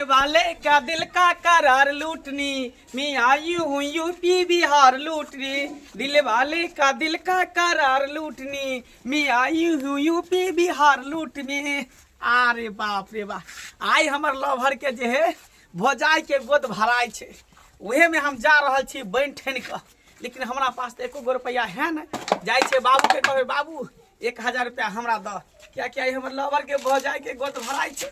वाले का दिल का करार लूटनी मैं आई हूँ यूपी बिहार लूटनी दिल वाले का दिल का करार लूटनी मैं आई हूँ यूपी बिहार लूटनी अरे बाप रे बाप आइ हमर लवर के जे है भोजाई के गोद भराय छै उहे में हम जा रहल छी बनि ठनि कऽ लेकिन हमरा पास तऽ एको गो रुपैआ है ने जाइ छै बाबू के कहबै बाबू एक हजार रुपैआ हमरा दऽ किएकि आइ हमर लवर के भोजाई के गोद भराय छै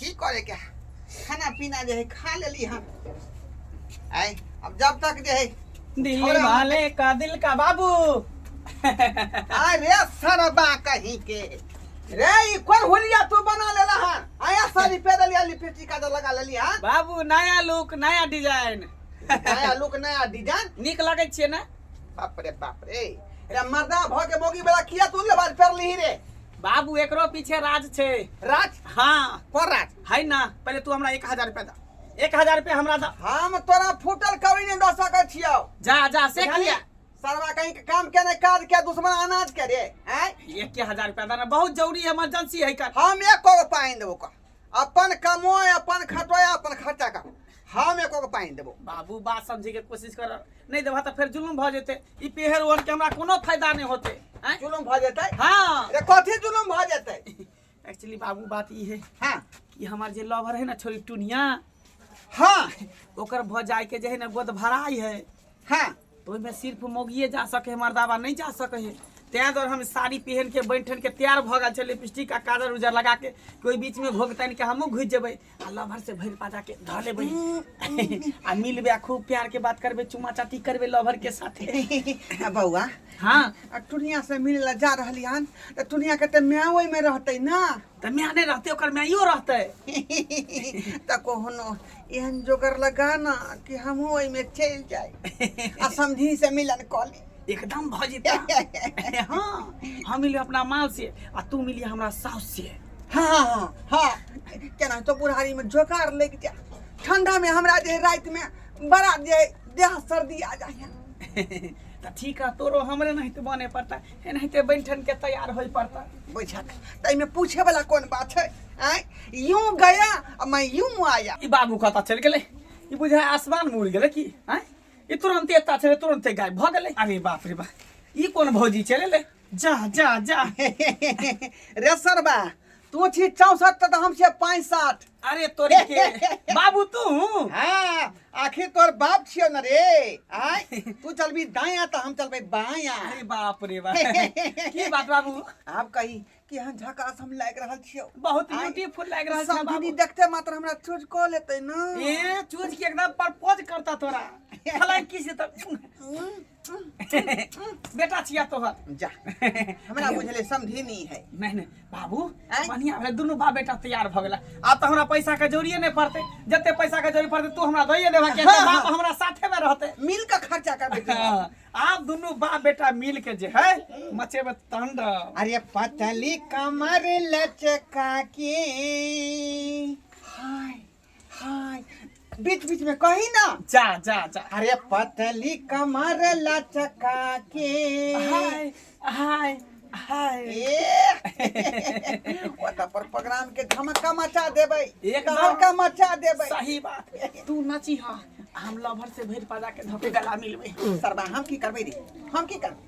की करे के है? खाना पीना जे है खा लेली हम आय अब जब तक जे है दिल छोरा- वाले का दिल का बाबू अरे सरबा कहीं के रे ई कोन हुलिया तू बना लेला हां आया सारी पे दलिया लिपस्टिक का लगा लेली हां बाबू नया लुक नया डिजाइन नया लुक नया डिजाइन निक लगे छे ना बाप रे बाप रे रे मर्दा भ के मोगी बड़ा किया तू लेबार फेर ली रे बाबू एकरो पीछे राज छै राज हाँ को राज है ना पहले तू हमरा एक हजार रुपया दा एक हजार रुपया हमरा दा हम तोरा फूटल कवड़ी नहीं दे सके छियो जा जा से बुझलियै? किया सरवा कहीं के काम के नहीं काज के दुश्मन अनाज के रे हैं एक के हजार रुपया दा ना बहुत जरूरी है इमरजेंसी है कर हम एक को पाइन देबो का अपन कमो अपन खटो अपन खर्चा कर हम एको के पानी देबो बाबू बात समझे के कोशिश कर नहीं देबा त फिर जुलुम भ जेते ई पेहर ओन के हमरा कोनो फायदा नहीं होते हैं जुलुम भ जेते हां रे कथि जुलुम भ जेते एक्चुअली बाबू बात ई है हां कि हमार जे लवर है ना छोरी टुनिया हां ओकर भ जाय के जे है ना गोद भराई है हां तो ओहिमे सिर्फ मोगिए जा सके है मर्दाबा नहीं जा सके है तैं दुआरे हम साड़ी पहन के बनि ठन के तैयार भऽ गेल छल लिपस्टिक आ काजर उजर लगा के कोई बीच में घोक तानि के हमहूँ घुसि जेबै आ लभर से भरि पाजा के धऽ लेबै आ मिलबै आ खूब प्यार के बात करबै चुमा चाटी करबै लभर के साथे आ बौआ हाँ आ टुनिया से मिले ला जा रहली हन त टुनिया के त माय ओहि में रहते ना तऽ माय नहि रहतै ओकर माइयो रहतै तऽ कोनो एहन जोगर लगा ना कि हमहूँ ओहिमे चलि जाय आ समधी से मिलन कऽ ली एकदम भऽ जेतै हँ हम मिलियो अपना माल से आ तू मिलियो हमरा साउस से हँ हँ हँ हँ केना तो बुढ़ारीमे जोगार लागि जाय ठंडामे हमरा जे रातिमे बड़ा जे देह सर्दी आ जाइए तऽ ठीक है तोरो हमरे नहीं तो बने पड़ता एनाहिते बनि ठन के तैयार होय पड़ता बुझक ताहिमे पूछे वाला कोन बात छै आय यूं गया आ मैं यूं आया ई बाबू कतऽ चलि गेलै ई बुझाय आसमान में उड़ि गेलै की आय ई तुरंते एता छलै तुरंते गायब भऽ गेलै अरे बाप रे बा ई कोन भौजी चलि एलै जा जा जा रे सरबा तू छी चौसठ त हम छियै पैंसठ अरे तोरे के बाबू तू हाँ आखिर तोर बाप छियो न रे आय तू चलबी दाया त हम चलबे बाया अरे बाप रे बाप की बात बाबू आप कही कि हम झकास हम लाग रहल छियो बहुत आय। ब्यूटीफुल लग रहल छै सब बाबू दीदी देखते मात्र हमरा चूज क लेते न ए चूज के एकदम प्रपोज करता तोरा फलां की से तब हम्म, बेटा छिया तोहर जा हमरा बुझले समझी नहीं है नहीं नहीं बाबू आँय? बढ़िया भेल दुनू बाप बेटा तैयार भऽ गेला आब तऽ हमरा पैसा के जरूरिये नहि पड़तै जते पैसा के जरूरी पड़तै तू हमरा दइए देबा किया हाँ, तऽ बाप हाँ। हमरा साथे में रहतै मिल के खर्चा करबे तू। हाँ, आब दुनू बाप बेटा मिल के जे है मचेबे तांडव अरे पतली कमर लचका के हाय बीच बीच में कही ना जा जा जा अरे पतली कमर लचका के हाय हाय हाय ए ओता पर प्रोग्राम के धमका मचा देबै एकदम। धमका मचा देबै सही बात तू नची हा हम लभर से भरि पाजा के धपे गला मिलबे सरबा हम की करबै रे हम की करबै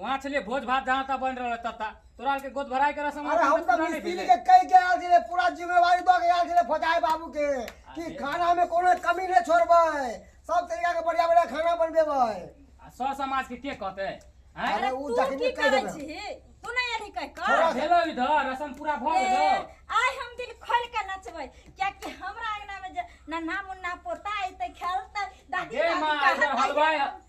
वहाँ छलिए भोज भात जहाँ तक बन रहा तत्ता तोरा आर के गोद भराई के रसम अरे हम तो मिस्त्री के कह के आल छले पूरा जिम्मेवारी दो के आल छले फजाए बाबू के कि खाना में कोनो कमी नहीं छोड़बे सब तरीका के बढ़िया बढ़िया खाना बनबेबे सर समाज के के कहते अरे उ जखनी कह देबे तू नहीं आनी कह कर थोड़ा भेलो इधर रसम पूरा भ गेलो आय हम दिल खोल के नचबै क्या कि हमरा अंगना में ना नाम ना पोता आइते खेलते दादी दादी का हलवाई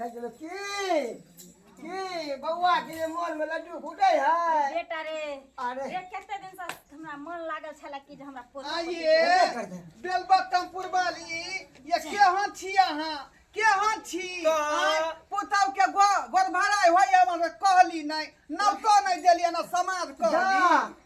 गेल की की बौआ के जे मोन में लड्डू फूटे है बेटा रे अरे रे कते दिन से हमरा मन लागल छला कि जे हमरा पोता आइए बेलबत्तम पुरबाली ये के हां छी अहाँ के हां छी आँय, पुतहु के गो- गोरभराइ होइए हमरा कहली नहि नवतो नहि देलियै ना समाज कहली जा,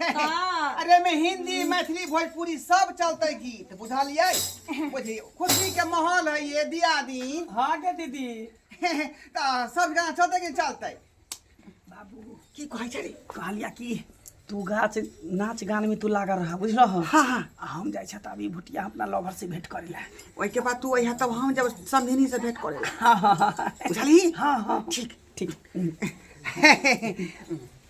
हाँ। अरे में हिंदी मैथिली भोजपुरी सब चलते गीत बुझलिए बुझी खुशी के माहौल है ये दिया दी हाँ के दीदी तो सब गाना चलते कि चलते बाबू की कहै छै कहलिया की तू गाछ नाच गान में तू लागल रहा बुझलो हो हाँ हाँ आ हम जाइ छत अभी भुटिया अपना लवर से भेंट करे ला ओहि के बाद तू अइहा तब हम जब समधिनी से भेंट करे हाँ हाँ हाँ बुझली हाँ हाँ ठीक ठीक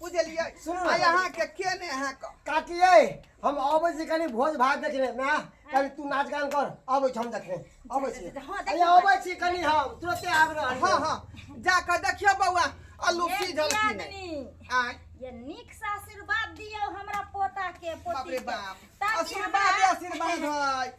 बुझलियै सुनू ने। आइ अहाँके के ने अहाँके काकी यै हम अबै छी कनी भोज भात देखने ना कनी तू नाच गान कर अबै छी हम देखने अबै छी जा, जा, हँ, देखियौ। अरे अबै छी कनी हम तुरते आबि रहल हँ हँ जाकऽ देखियौ बौआ अल्लू की एक झलकी ने दियादनी, आँय ये नीक से आशीर्वाद दियौ हमरा पोता के बाप पोती रे के बाप ताकि आशीर्वाद हमरा आशीर्वाद है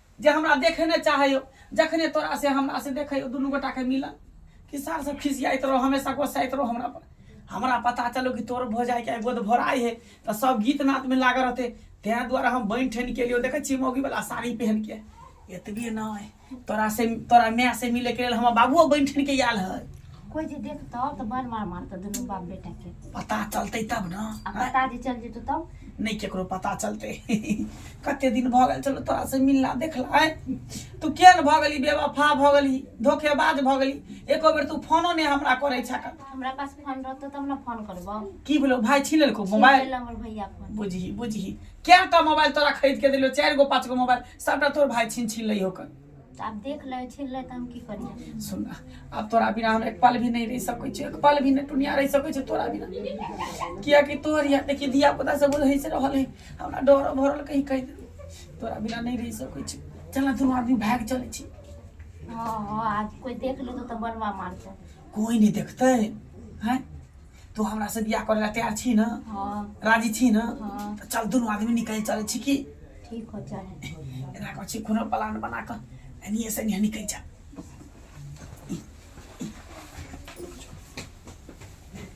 जे हमरा देखे नहि चाहैयो जखने तोरा से हमरा से देखैयो दुनू गोटा के मिलन कि सार सब खिसियाइत रहो हमेशा गोसाइत रहो हमरा पर हमरा पता चलो कि तोर भो जाए के गोद भोराई है तो सब गीत नात में लागल रहते तें द्वारा हम बन ठन के लिए देखे छी मौगी वाला साड़ी पहन के एतबे न तोरा से तोरा माय से मिले के लिए हम बाबुओ बन ठन के आयल है कोई जे देखत त मार मार मार त दुनु बाप बेटा के पता चलतै तब न आ पता जे चल जेतो तब नहि केकरो पता चलतै कते दिन भऽ गेल चलो तोरा से मिलला देखला आय तू किया ने भऽ गेली बेवफा भऽ गेली धोखेबाज भऽ गेली एको बेर तू फोनो नहि हमरा करै छक हमरा पास फोन रहतो तब न फोन करबो की भेलो भाय छीन लेलको छीन मोबाइल लेला हमर भैया फोन बुझही बुझही कए टा मोबाइल तोरा खरीद के देलियो चारि गो पाँच गो मोबाइल सबटा तोर भाय छीन छीन लइहो कर आब देख ले छीन ले त हम की करिए सुन ना, आब तोरा बिना हम एक पल भी नहीं रह सकै छी एक पल भी नहीं टुनिया रह सकै छी तोरा बिना किया कि तोहर या देखी धिया पुता सब बोल है से रहल है हमरा डर भरल कहीं कहि दे तोरा बिना नहीं रह सकै छी चल ना दुनू आदमी भाग चलै छी हां हां आज कोई देख लेतो त बड़वा मारते कोई नहीं देखते हैं तू हमरा से बियाह करे ला तैयार छी ना हाँ राजी छी ना हाँ तो चल दोनों आदमी निकल चले छी की ठीक हो चले एना कह छी कोनो प्लान बना के एनिए से एनिए निकल जा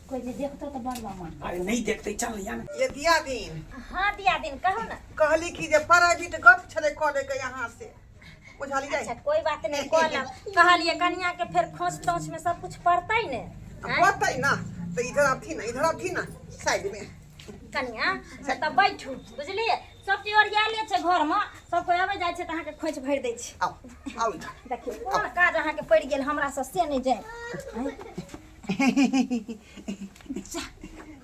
कोई जे देखतो तो बड़ बा मन अरे नहीं देखते चल या ना ये दिया दिन हाँ दिया दिन कहो ना कहली कि जे प्राइवेट गप छले कॉलेज के यहाँ से बुझाली जाई अच्छा कोई बात नहीं कहलक कहलिए कनिया के फिर खोंच तोंच में सब कुछ पड़तै ने अब हैं? पड़तै ना तो इधर अब थी ना इधर अब थी ना साइड में कनिया तब बैठू बुझलिए सब चीज ओरिया ले छै घर में सब कोई आबे जाय छै त अहाँ के खोंच भरि दै छै आओ आओ इधर देखिए कोन काज अहाँ के पड़ि गेल हमरा से से नहीं जाय हैं? जा,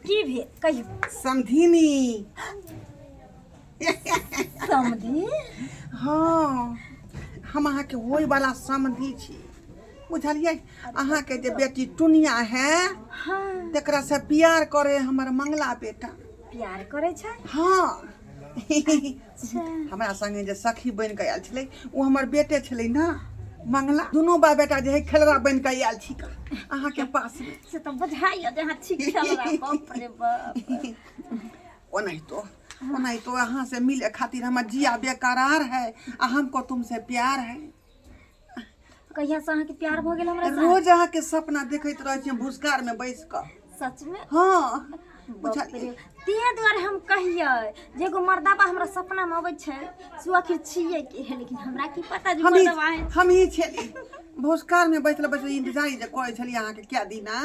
की भेल कहियो समधिनी समधी हँ हम अहाँके होय वाला समधी छी बुझलियै अहाँके जे बेटी टुनिया है हाँ तेकरा से प्यार करे हमर मंगला बेटा प्यार करे छै हाँ अच्छा हमरा संगे जे सखी बनि कऽ आयल छलै ओ हमर बेटे छलै ने मंगला दुनू बा बेटा जे है खेलरा बनि कऽ आयल छी अहाँके पास से तऽ बुझाइए जे अहाँ ठीक खेलरा बाप रे बाप ओनाहितो ओनाहितो अहाँ से मिले खातिर हमर जिया बेकरार है आ हमको तुमसे प्यार है कहिया से अहाँके प्यार भऽ गेल हमरा से रोज अहाँके सपना देखैत रहै छियै भुसकार में बैस कऽ सच में हँ बुझल तें दुआरे हम कहियै जे एगो मर्दाबा हमरा सपना में अबै छै से ओ आखिर छियै के है लेकिन हमरा की पता जे हम ही मर्दाबा है हम ही छेली भुसकार में बैठल बैठल इंतजार जे करै छलियै अहाँके क्या दिना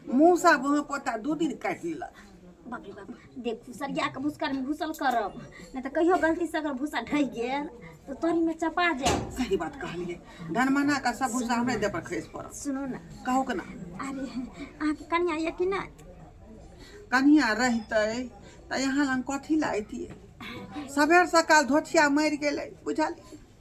मूसा वहाँ पोता दू दिन काटि लेलक बाप रे बाप देखू सरिया के भूसकर में घुसल करब नहीं तो कहियो गलती से अगर भूसा ढह गेल तो तोरी में चपा जाए सही बात कहलिए धनमना का सब भूसा हमरे दे पर खस पड़ल सुनो ना कहू के ना अरे अहाँ के कनिया ये कि ना कनिया रहते तो यहाँ लग कथी लाइती सबेर सकाल धोछिया मरि गेलै बुझलिए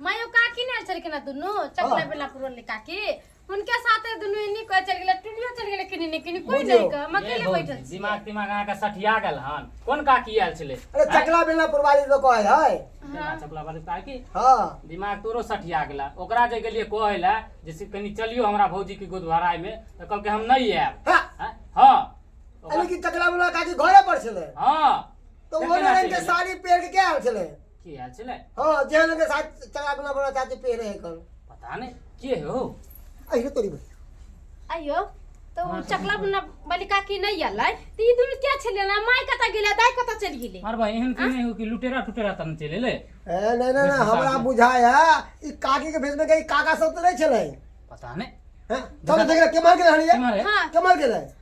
मायो काकी ने चल गेला दुनु चकला बेला पुरन ले काकी उनके साथे दुनु इनी को चल गेला टुलियो चल गेला किनी ने किनी कोई नहीं का हम अकेले बैठल छी दिमाग दिमाग अहाँ के सठिया गेल हन कोन काकी आयल छले अरे चकला बेला पुरवाली लोग कहै है दिमाग चपला वाली काकी हाँ दिमाग तोरो सठिया गेला ओकरा जे गेलिए कहै ला जे से कनी चलियो हमरा भौजी के गोदवाराय में त कहलके हम नहीं आएब हाँ हैं? हाँ अरे ओकरा- की चकला बेला काकी घरे पर छले हाँ तो वो ने इनके साड़ी पेड़ के क्या आयल छले के आयल छलै हाँ जेहन अगर साथ चला बिना बना चाची पे रहे कर पता नहि के हो अहिरे तोरी बे अयो तो उ चकला बना बलिका की नहीं आलै तो ई दुनु क्या छले ना माय कता गेले दाय कता चल गेले मार भाई एहन के नहि हो कि लुटेरा टुटेरा तन चले ले ए नहीं नहीं नहीं हमरा बुझाय है ई काकी के भेज में गई काका सब तो नहीं चले पता नहि हैं चलो देख ले के मार के हनी के मारे? हाँ। के मार के रहे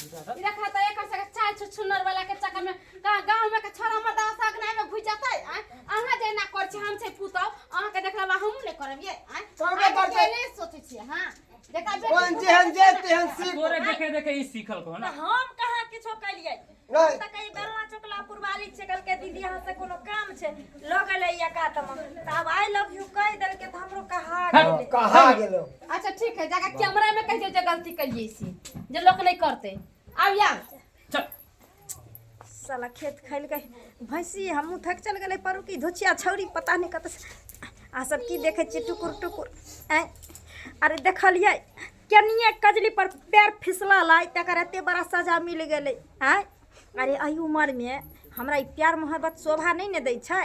ई देखा त एकर सके चाल छुछुनर वाला के चक्कर में कहाँ गांव में के छोरा मर्द साग नहीं में घुस जाता है आय अहाँ जे ना कर छी हम छै पुतौ अहाँ के देखला बा हमहू नहीं करब ये आय करबे अहाँ करतै। के नहीं सोचै छी हां देखा बे ओहन जेहन जे तेहन सीख तोरे देखे देखे ई सीखल को ना हम कहाँ किछो कलियै हम तऽ कही बेलना चोकला पुरवाली छै कहलकै दीदी यहाँ से कोनो काम छै लऽ गेलै या कातमे तऽ आब आइ लव यू कहि देलकै तऽ हमरो कहा गेलै कहा गेलो अच्छा ठीक है जाकर कैमरा में कहिए जो गलती कहिए इसी जो लोग नहीं करते अब या चल साला खेत खैल के भैंसी हमहूँ थक चल गए पर की धोचिया छौरी पता नहीं कत आ सब की देखे छियै टुकुर टुकुर ऐ अरे देखलियै केनिए कजली पर पैर फिसला लाई तकर एते बड़ा सजा मिल गेलै आँय अरे एहि उमरमे हमरा ई प्यार मोहब्बत शोभा नहि ने दै छै